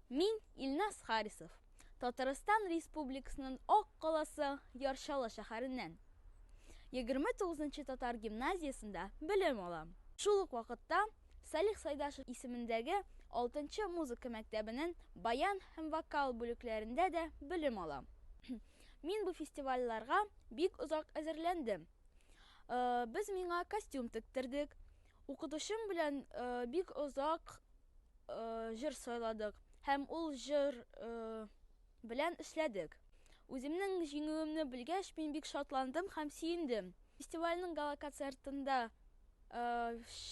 Мин, Илназ Харисов, Татарстан Республикасының Ак каласы Ярчалы шәһәреннән. Егерме тугызынчы татар гимназиясендә белем алам. Шул ук вакытта Салих Сайдашев исемендәге алтынчы музыка мәктәбенең баян һәм вокал бүлекләрендә дә белем алам. Мин бу фестивальләрга бик озак әзерләндем. Без миңа костюм тектердек. Укытучым белән бик озак җыр сайладык һәм ул җыр белән эшләдек. Үземнең җиңүемне белгәч, мин бик шатландым һәм сөендем. Фестивальнең гала-концертында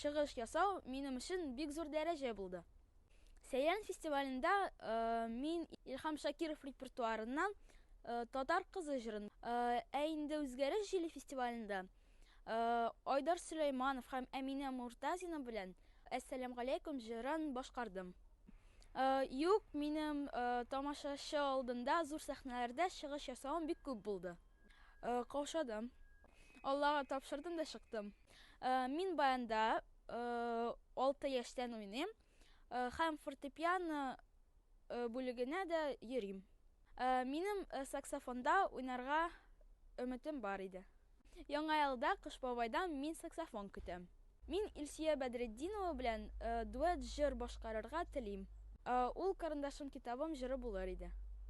чыгыш ясау минем өчен бик зур дәрәҗә булды. Сәян фестивалендә мин Илһам Шакиров репертуарыннан Татар кызы җырын. Ә инде Үзгәреш җиле фестивалендә Айдар Сөләйманов һәм Әминә Муртазина белән Әссәләм галәйкүм җырын башкардым. Юк, минем тамашачы алдында зур сәхнәләрдә чыгыш ясавым бик күп булды. Каушадым. Аллага тапшырдым да чыктым. Мин баянда алты яшьтән уйныйм. һәм фортепиано бүлегенә дә йөрим. Минем саксофонда уйнарга өметем бар иде. Яңа елда Кыш бабайдан мин саксофон көтәм. Мин Илсөя Бәдретдинова белән дуэт җыр башкарырга телим. Ул Карындашым китабым җыры булыр иде.